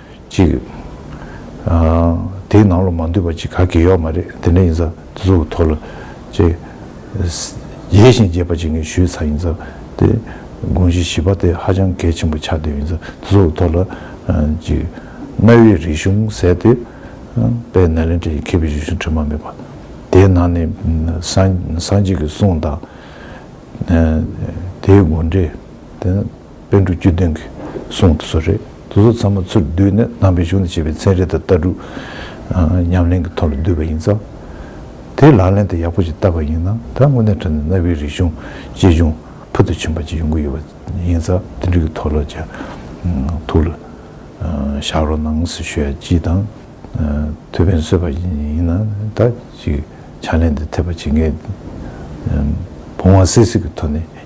ཅིག། དེའི་ནང་ལ་མ་འདུས་པ་ཅིག་ག་གེ་ཡོད་མ་རེད་དེ་འདྲ་ཡིན་ས་དེ་ཚོ་གི་ཐོག་ལ་ཅེ། ཡིད་བཞིན་རྒྱས་པ་ཅིག་ངས་ཞུས་ཚར་ཡིན་ས་དེ། དགོངས་གཞི་བཞི་པ་དེ་ཧ་ཅང་གལ་ཆེན་པོ་ཆགས་བསྡད་ཡིན་ས་དེ་ཚོ་གི་ཐོག་ལ་ཅིག། གནའ་བོའི་རིག་གཞུང་ཟེར་དེ། དཔལ་ནཱ་ལེནྡྲ་ཡི་མཁས་པའི་རིག་གཞུང་དྲི་མ་མེད་པ། དེའི་ནང་ནས་སངས་རྒྱས་ཀྱི་གསུང་དང། དེའི་དགོངས་འགྲེལ། དཔལ་འབྲུག་རྒྱུད་སྟོན་གྱིས་གསུངས་དེ་ཚོ་རེད། དེ་ཚོ་ཚང་མ་ཚུར་བསྡུས་ནས་དམ་པའི་གཞུང་དང་བཅས་པའི་ཚན་རིག་དང་ལྟ་གྲུབ་ཉམས་ལེན་གྱི་ཐོག་ལ་བསྡུས་པ་ཡིན་ཙང། དེའི་ལག་ལེན་དུ་ཡག་པོ་ཞིག་བསྟར་བ་ཡིན་ན་ད་དངོས་གནས་ཁྲོན་ནས་གནའ་བོའི་རིག་གཞུང་གཅེས་སྐྱོང་ཕུལ་དུ་ཕྱིན་པ་ཅིག་ཡོང་གི་ཡོད་པ་ཡིན་ཙང་དེ་འབྲུག་གི་ཐོག་ལ་ཅིག་ཐུགས་ལ་བཞག་རོགས་གནང་ཟེར་ཞུ་ཡ་ཅིག་དང། ཐུགས་ཕན་གསོས་པ་ཞིག་ཡིན་ན་ད་ཅིག་ཕྱག་ལེན་དུ་ཐེབས་པ་བྱེད་མཁན་བུང་བ་སིལ་སིལ་གྱི་ཐོག་ནས།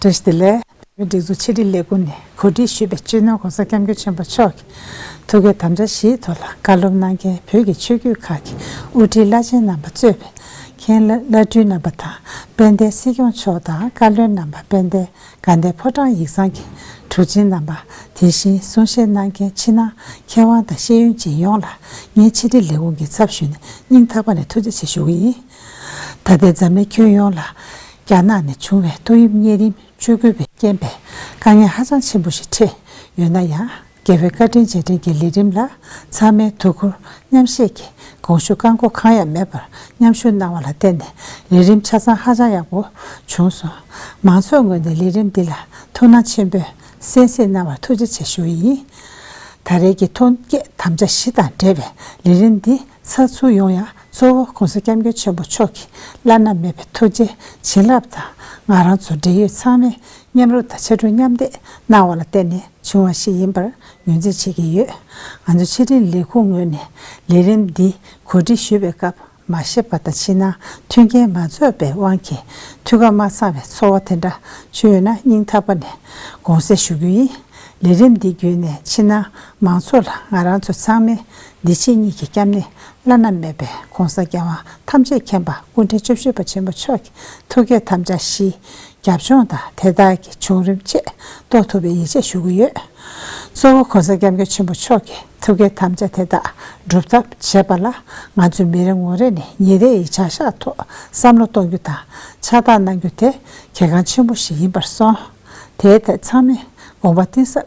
བཀྲ་ཤིས་བདེ་ལེགས། བོད་མིའི་སྒྲིག་འཛུགས་ཕྱི་དྲིལ་ལས་ཁུངས་ནས་གོ་སྒྲིག་ཞུས་པའི་སྤྱི་ནོར ྋགོང་ས ྋསྐྱབས་མགོན་ཆེན་པོ་མཆོག་གི་ཐུགས་ཀའི་དམ་བཅའ་བཞིའི་ཐོག་ལ་བཀའ་སློབ་གནང་མཁན་བོད་ཀྱི་ཆོས་བརྒྱུད་ཁག་གི་དབུ་ཁྲིད་བླ་ཆེན་རྣམ་པ་གཙོས་པའི་མཁན་བླ་བླ་སྤྲུལ་རྣམ་པ་དང་དཔལ་ལྡན་སྲིད་སྐྱོང་མཆོག་དང་བཀའ་བློན་རྣམ་པ་དཔལ་ལྡན་དགའ་ལྡན་ཕོ་བྲང་ཡིག་ཚང་གི་གྲུབ་ཆེན་རྣམ་པ་དེ་བཞིན་གསུང་བཤད་གནང་མཁན་ཕྱི་ནང་མཁས་དབང་དང་ཤེས་ཡོན་ཅན་ཡོངས་ལ་ངས་ཕྱི་དྲིལ་ལས་ཁུངས་ཀྱི་ཚབ་ཞུས་ནས་སྙིང་ཐག་པ་ནས་ཐུགས་རྗེ་ཆེ་ཞུ་གི་ཡིན། ད་ལྟའི་འཛམ་གླིང་ཁྱོན་ཡོངས་ལ་རྒྱ་ནག་ནས་བྱུང་བའི་ཏོག་དབྱིབས་གཉན་རིམས་བཅོས་སྐུལ་བའི་རྐྱེན་པས་དཀའ་ངལ་ཧ་ཅང་ཆེན་པོ་ཞིག་འཕྲད་ཡོད་ན་ཡང་རྒྱལ་བའི་བཀའ་དྲིན་རྗེས་དྲན་གྱི་ལས་རིམ་ལ་ཚང་མས་དོ་ཁུར་མཉམ་བཞེས་ཀྱིས་དགོངས་ཞུ་བཀའ་འགོག་གང་ཡང་མེད་པར་མཉམ་ཞུགས་གནང་བ་ལ་བརྟེན་ནས་ལས་རིམ་ཆ་ཚང་ཧ་ཅང་ཡག་པོ་བྱུང་སོང། མང་ཚོགས་ངོས་ནས་ལས་རིམ་འདི་ལ་ཐུགས་སྣང་ཆེན་པོས་གསན་གཟིགས་གནང་བར་ཐུགས་རྗེ་ཆེ་ཞུ་ཡི་ཡིན། ད་རེས་ཀྱི་ཐོན་སྐྱེད་དམ་བཅའ་གཞི་དང་འབྲེལ་བའི་ལས་རིམ་འདི་ཚ་ཚུར་ཡོང་ཡང་གཙོ་བོ་གོང་ས་སྐྱབས་མགོན་ཆེན་པོ་མཆོག་གི་བླ་ན་མེད་པའི་ཐུགས་རྗེ་བྱིན་རླབས་དང་ང་རང་ཚོ་འབྲེལ་ཡོད་ཚང་མས་མཉམ་རུབ་དང་ཕྱར་གྲུ་མཉམ་འདེགས་གནང་བ་ལ་བརྟེན་ནས་བྱུང་བ་ཞིག་ཡིན་པར་ངོས་འཛིན་བྱེད་ཀྱི་ཡོད། ང་ཚོ་ཕྱི་དྲིལ་ལས་ཁུངས་ངོས་ནས་ལས་རིམ་འདི་གོ་སྒྲིག་ཞུ་བའི་སྐབས་མ་ཤེས་པ་དང་ཕྱི་ནང་མཐུན་རྐྱེན་མ་རྫོགས་པའི་དབང་གིས་ཐུགས་ཁ་མ་ཚང་བའི་ཚོར་བ་དེ་འདྲ་བྱུང་ཡོད་ན་སྙིང་ཐག་པ་ནས་དགོངས་སེལ་ཞུ་རྒྱུ་ཡིན། ལས་རིམ་འདི་བརྒྱུད་ནས་ཕྱི་ནང་མང་ཚོགས་ལ་ང་རང་ཚོ་ཚང་མས་བདེ་ཆེན་གཉིས་ཀྱི་སྐྱབས་གནས་བླ་ན་མེད་པའི་གོང་ས་རྒྱལ་བ་ཐམས་ཅད་མཁྱེན་པ་སྐུ་འཕྲེང་བཅུ་བཞི་པ་ཆེན་པོ་མཆོག་གི་ཐུགས་བསྐྱེད་དམ་བཅའ་བཞིའི་རྒྱབ་ལྗོངས་དང་དེ་དག་གི་བྱུང་རིམ་བཅས་རྟོགས་ཐུབ་པའི་ཡིད་ཆེས་ཞུ་གི་ཡོད། གཙོ་བོ་གོང་ས་སྐྱབས་མགོན་ཆེན་པོ་མཆོག་གི་ཐུགས་བསྐྱེད་དམ་བཅའ་དེ་དག་སྒྲུབ་ཐབས་བྱེད་པ་ལ་ང་ཚོས་མི་རེ་ངོ་རེ་ནས་ཉིན་རེ་ཡི་བྱ་གཞག་ཐོག་བསམ་བློ་གཏོང་རྒྱུ་དང་ཕྱག་རྟགས་གནང་རྒྱུ་དེ་གལ་འགངས་ཆེན་པོ་ཞིག་ཡིན་པར་སོང། དེའི་ཐད་ཚང་མས་དགོངས་པ་གཏིང་ཟབ